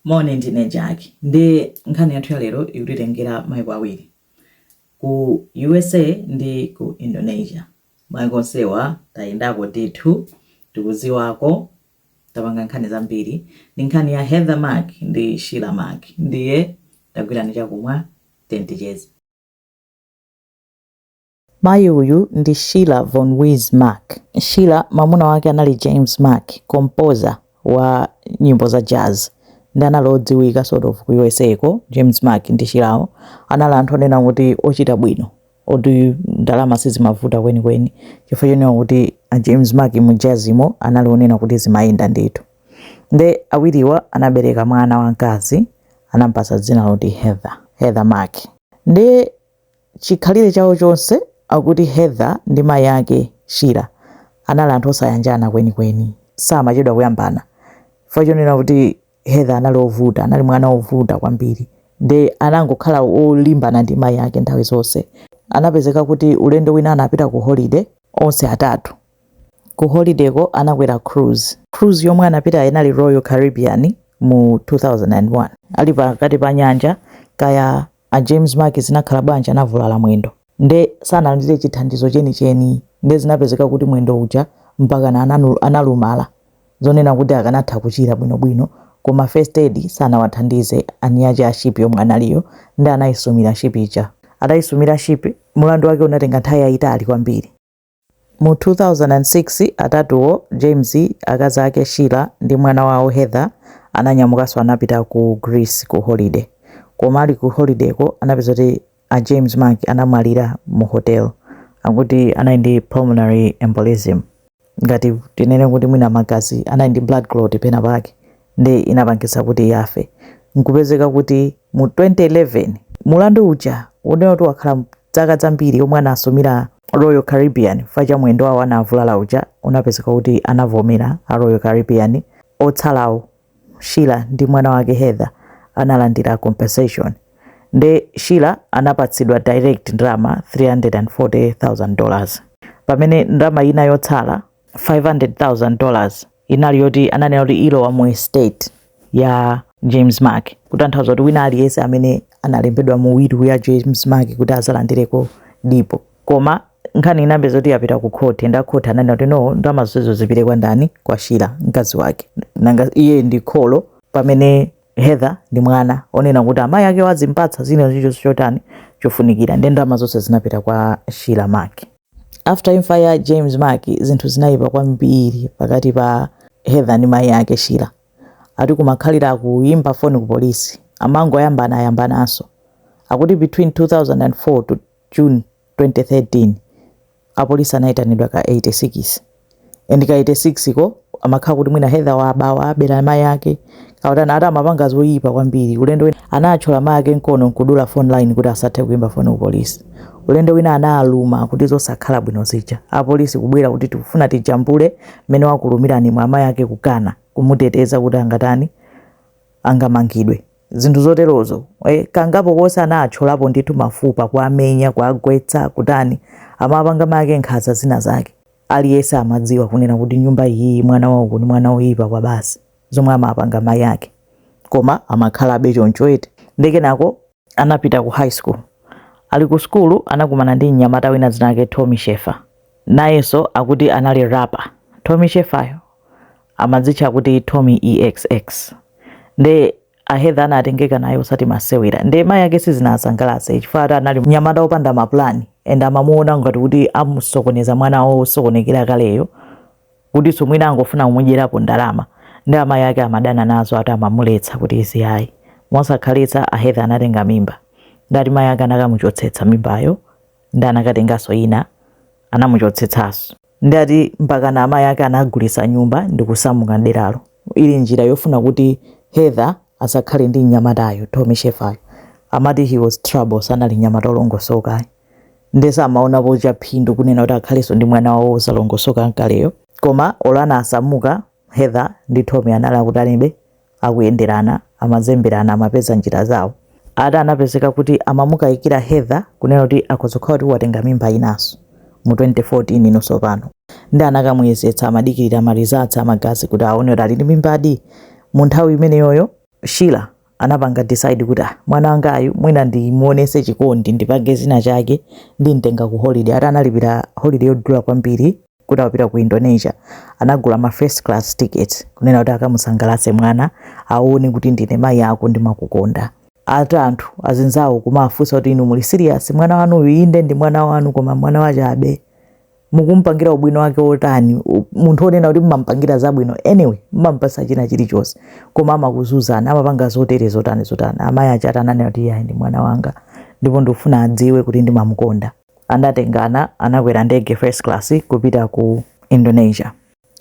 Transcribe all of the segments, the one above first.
Moni ndine Jack ndi nkhani yathu ya lero ikutitengera maiko awiri ku USA ndi ku Indonesia. Maiko onsewa tayendako ndithu tikuziwako tapanga nkhani zambiri ndi nkhani ya Heather Mack ndi Sheila Mack ndiye tagwirani chakumwa then ticheze. Mayi uyu ndi Sheila Von Wiese Mack. Sheila mamuna wake anali James Mack, composer wa nyimbo za jazz ndi anali odziwika sort of ku usa ko. James Mack ndi Sheila wo anali anthu onena kuti ochita bwino oti ndalama sizimavuta kwenikweni chifukwa chonena kuti a James Mack mu jazz mo anali onena kuti zimayenda ndithu. Nde awiriwa anabereka mwana wamkazi anampatsa dzina loti Heather, Heather Mack. Nde chikhalire chawo chonse akuti Heather ndi mayi ake, Sheila, anali anthu osayanjana kwenikweni. Samachedwa kuyambana. Chifukwa chonena kuti Heather anali ovuta, anali mwana ovuta kwambiri nde anangokhala olimbana ndi mayi ake nthawi zonse. Anapezeka kuti ulendo wina anapita ku holiday onse atatu. Ku holiday ko anakwera cruise. Cruise yomwe anapita inali Royal Caribbean mu 2001. Ali pakati pa nyanja, kaya A James Mack zinakhala bwanji anavulala mwendo nde sanalandire chithandizo chenicheni nde zinapezeka kuti mwendo uja mpakana analumala zonena kuti akanatha kuchira bwinobwino koma first aid sanawathandize eniake a ship yomwe analiyo nde anaisumira ship ija. Ataisumira ship mulandu wake unatenga nthawi yaitali kwambiri. Mu 2006, atatuwo, James, akazi ake Sheila, ndi mwana wawo Heather, ananyamukanso anapita ku Greece ku holiday. Koma ali ku holiday ko anapeza kuti a James Mack anamwalira mu hotel. Akuti anali ndi pulmonary embolism, ngati tinene kuti mwina magazi anali ndi blood clot penapake ndi inapangitsa kuti afe nkupezeka kuti mu 2011 mulandu uja onena kuti wakhala dzaka zambiri omwe anasumira Royal Caribbean chifukwa cha mwendo wawo anavulala uja unapezeka kuti anavomera a Royal Caribbean otsalawo Sheila ndi mwana wake Heather analandira compensation nde Sheila anapatsidwa direct ndalama 340,000 dollars pamene ndalama ina yotsala 500,000 dollars inali yoti ananena kuti ilowa mu estate ya james mack kutanthauza kuti wina aliyense amene analembedwa mu will ya james mack kuti azalandireko dipo koma nkhani inapeza kuti yapita ku khoti nde a khoti ananena kuti no ndalama zonsezo zipite kwa ndani kwa sheila mkazi wake nanga iye ndi kholo pamene heather ndi mwana onena kuti amayi ake azimpatsa zina zicho chotani chofunikira ndi ndalama zonse zinapita kwa sheila mack After imfa ya James Mack zinthu zinayipa kwambiri pakati pa Heather ndi mayi ake Sheila. Ati kumakhalira kuyimba foni ku polisi. Amangoyambana ayambananso. Akuti between 2004 to June 2013 apolisi anayitanidwa ka 86. and ka 86 ko amakhala kuti mwina Heather wabawa abera mai ake kautana ati amapanga zoyipa kwambiri ulendo wina anatchola mai ake mkono nkudula phone line kuti asathe kuimba phone ku polisi ulendo wina analuma kuti zosakhala bwino zija apolisi kubwera kuti tikufuna tijambule mmene wakulumirani mwa mai ake kukana kumuteteza kuti angatani angamangidwe zinthu zoterozo e, kangapo konse anatcholapo ndithu mafupa kuamenya kuagwetsa kutani amapanga mai ake nkhanza zina zake Aliyense amadziwa kunena kuti nyumba iyiyi mwana wa uku ni mwana woyipa kwabasi zomwe amapanga mayi ake koma amakhalabe choncho eti nde kenako anapita ku high school ali ku sukulu anakumana ndi mnyamata wina dzina lake Tommy Schaefer nayenso akuti anali rapper Tommy Schaefer yo amadzitcha kuti Tommy EXX nde a Heather anatengeka naye osati masewera nde mayi ake sizinasangalatse chifukwa ati anali mnyamata opanda mapulani and amamuona ngati kuti amusokoneza mwana wawo osokonekera kaleyo kutinso mwina angofuna kumudyerapo ndalama nde amayi ake amadana nazo ati amamuletsa kuti izi ayi mosakhalitsa a Heather anatenga mimba ndati mayi ake anakamuchotsetsa mimbayo nde anakatenganso ina anamuchotsetsanso ndati mpakana amayi ake anagulitsa nyumba ndikusamuka mderalo ili njira yofuna kuti Heather asakhale ndi mnyamatayo, Tommy Schaefer-yo amati he was trouble sanali mnyamata olongosoka ayi nde samaonapo chaphindu kunena kuti akhalenso ndi mwana wawo osalongosoka mkaleyo koma olo anasamuka Heather ndi Tommy anali akutanibe, akuyenderana, amazemberana, amapeza njira zawo. Ati anapezeka kuti amamukayikira Heather kunena kuti akhoza kukhala kuti watenga mimba inanso mu 2014 ino tsopano. Nde anakamuyezetsa amadikirira ma results a magazi kuti aone kuti ali ndi mimbadi mu nthawi imeneyoyo. Sheila anapanga decide kuti ah, mwana wangayu mwina ndimuonese chikondi ndipange zina chake ndimtenga ku holiday ati analipira holiday yodula kwambiri kuti apita ku Indonesia anagula ma first class ticket kunena kuti akamusangalase mwana aone kuti ndine mayi ako ndimakukonda ati anthu azinzawo kumafunsa kuti inu muli serious mwana wanuyu inde ndi mwana wanu koma mwana wachabe mukumpangira ubwino wake wotani u- munthu onena kuti mumampangira zabwino anyway mumampasa china chilichonse koma amakuzuzani amapanga zotere zotani zotani amayi ake ati ananena kuti iyayi ndi mwana wanga ndipo ndikufuna adziwe kuti ndimamukonda anatengana anakwera ndege first class kupita ku indonesia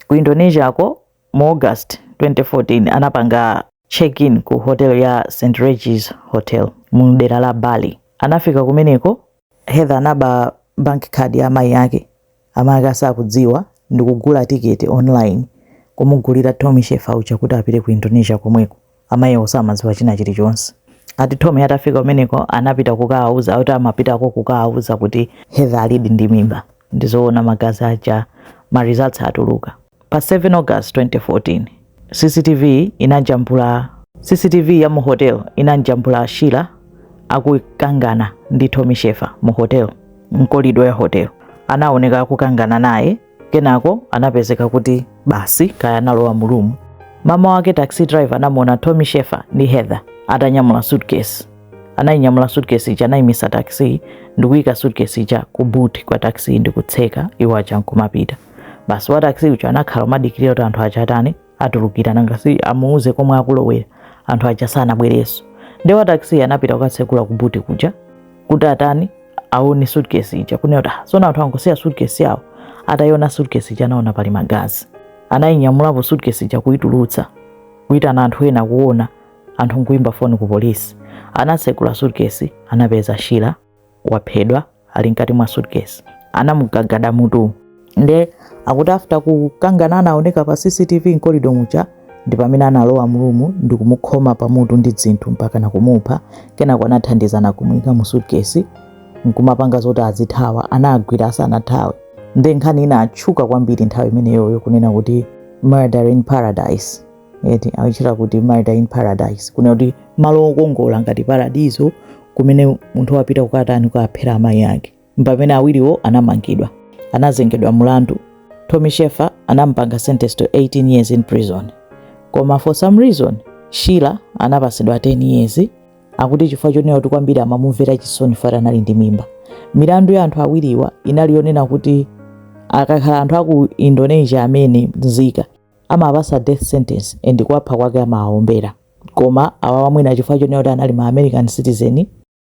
ku indonesia ko mu august 2014 anapanga check-in ku hotel ya st regis hotel mu dera la bali anafika kumeneko Heather anaba bank card ya amayi ake, amayi ake asakudziwa, ndikugula ticket online kumugulira Tommy Schaefer uja kuti apite ku Indonesia komweko. Amayiwo samadziwa china chilichonse. Ati Tommy atafika kumeneko anapita kukawauza, akuti amapitako kukawauza kuti Heather alidi ndi mimba. Ndizowona magazi aja ma results atuluka pa 7 August 2014 CCTV inajambula cctv ya mu hotel inamjambula Sheila akukangana ndi Tommy Schaefer mu hotel mkolido ya hotel anawoneka akukangana naye kenako anapezeka kuti basi kaya analowa mu room mama wake taxi driver anamuona Tommy Schaefer ndi Heather atanyamula suitcase anayinyamula suitcase ija anayimisa taxi ndikuyika suitcase ija ku boot kwa taxi ndikutseka iwo aja nkumapita basi wa taxi uja anakhala kumadikirira kuti anthu aja atani atulukira nanga si amuuze komwe akulowera anthu aja sanabwerenso ndi wa taxi anapita kukatsekula ku boot kuja kuti atani aone suitcase ija kunena kuti "Ah, sona anthu angosiya suitcase yawo atayiona suitcase ija anaona pali magazi anayinyamulapo suitcase ija kuyitulutsa kuyitana anthu ena kuona anthu nkuimba foni ku polisi anatsekula suitcase anapeza Sheila waphedwa ali mkati mwa suitcase anamugagada mutu nde akuti after kukangana anaoneka pa CCTV mkolido muja ndi pamene analowa mu room ndikumukhoma pamutu ndi zinthu mpaka nakumupha kenako anathandizana kumuyika mu suitcase nkumapanga zoti azithawa anagwidwa asanathawe nde nkhani inatchuka kwambiri nthawi imeneyoyo kunena kuti murder in paradise eti amatchula kuti murder in paradise kunena kuti malo okongola ngati paradiso kumene munthu wapita kukatani kukaphera amayi ake mpamene awiriwo anamangidwa anazengedwa mulandu Tommy Schaefer anampanga sentence to 18 years in prison koma for some reason Sheila anapatsidwa 10 years akuti chifukwa chonena kuti kwambiri amamumvera chisoni poti anali ndi mimba milandu ya anthu awiriwa inali yonena kuti akakhala anthu aku Indonesia amene nzika amawapatsa death sentence and kuwapha kwake amawaombera koma awawa mwina chifukwa chonena kuti anali ma American citizen,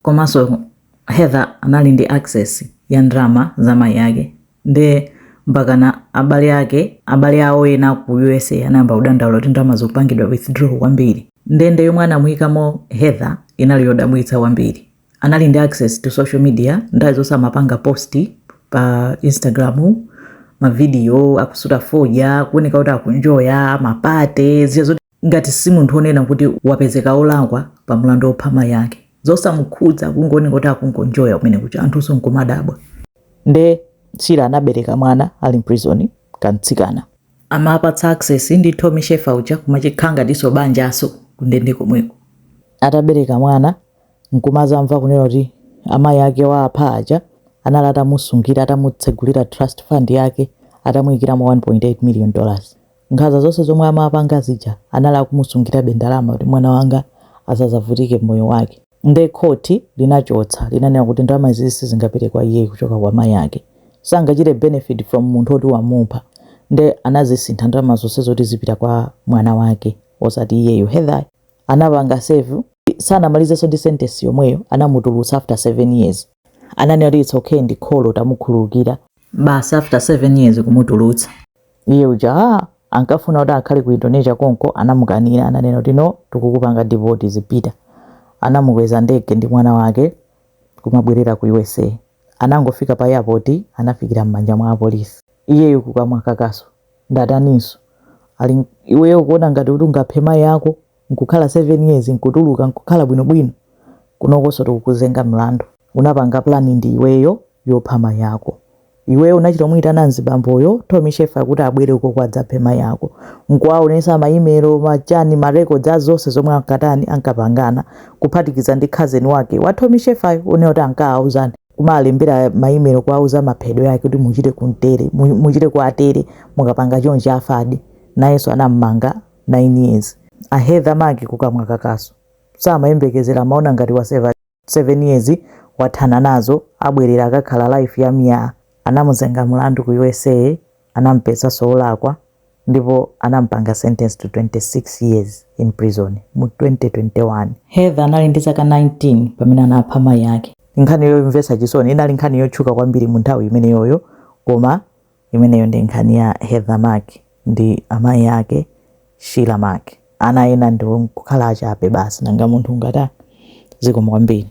komanso Heather anali ndi access ya ndalama za mayi ake nde mpakana abale ake abale awo ena ku USA anayamba kudandaula kuti ndalama zikupangidwa withdraw kwambiri ndende yomwe anamuyikamo Heather inali yodabwitsa kwambiri anali ndi access to social media nthawi zonse amapanga post pa Instagram mavidiyo akusuta fodya kuoneka kuti akunjoya mapate zija zoti ngati si munthu onena kuti wapezeka olakwa pa mlandu wopha mayi ake zosamukhudza kungooneka kuti akungonjoya kumene kuja anthunso nkumadabwa nde Sheila anabereka mwana ali mprisoni kamtsikana amapatsa access ndi Tommy Schaefer uja kumachita ngati ndinso banjanso kundende komweko atabereka mwana nkumazamva kunena kuti amayi ake waapha aja anali atamusungira atamutsegulira trust fund yake atamuyikiramo 1.8 million dollars nkhaza zonse zomwe amapanga zija anali akumusungirabe ndalama kuti mwana wanga asazavutike mmoyo wake nde court linachotsa linanena kuti ndalama izizi sizingapite kwa iyeyi kuchoka kwa mayi ake sangachite benefit from munthu oti wamupha nde anazisintha ndalama zonse zoti zipite kwa mwana wake osati iyeyo Heather anapanga serve sanamalizenso ndi sentence yomweyo anamutulutsa after 7 years ananena kuti it's okay ndi kholo tamukhululukira basi after 7 years kumutulutsa iye uja ah, ankafuna kuti akhale ku indonesia konko anamukanira ananena kuti no tikukupanga deport zipita anamukweza ndege ndi mwana wake kumabwerera ku usa anangofika pa airport anafikira m'manja mwa apolisi iyeyo kukamwa kakaso ndataninso? Ali iweyo ukuona ngati kuti ungaphe mayi ako nkukhala 7 years nkutuluka nkukhala bwino bwino? Kunokonso tikukuzenga mlandu. Unapanga plan ndi iweyo yopha mayi ako. Iweyo unachita kumuyitana mzibamboyo Tommy Sheffer kuti abwere ukoko adzaphe mayi ako. Nkuwaonetsa ma email, ma chani, ma records a zonse zomwe ankatani, ankapangana kuphatikiza ndi cousin wake wa Tommy Sheffer uja onena kuti ankaauzani. kuwalembera ma email kuwauza maphedwe ake kuti muchite kuntere muchite kwatere mukapanga chonchi afadi nayenso anammanga 9 years a Heather Mack kukamwa kakaso samayembekezera amaona ngati wa 7 years wathana nazo abwerera akakhala life ya miyaa anamuzenga mlandu ku usa Anamupezanso olakwa ndipo anamupanga sentence to 26 years in prison mu 2021. Heather anali ndi zaka 19 pamene anapha mayi ake. Nkhani yomvetsa chisoni, inali nkhani yotchuka kwambiri mu nthawi imeneyoyo koma imeneyo ndi nkhani ya Heather Mack ndi amayi ake Sheila Mack. Ana ena ndi kukhala achabe basi nanga munthu ungatani? Zikomo kwambiri.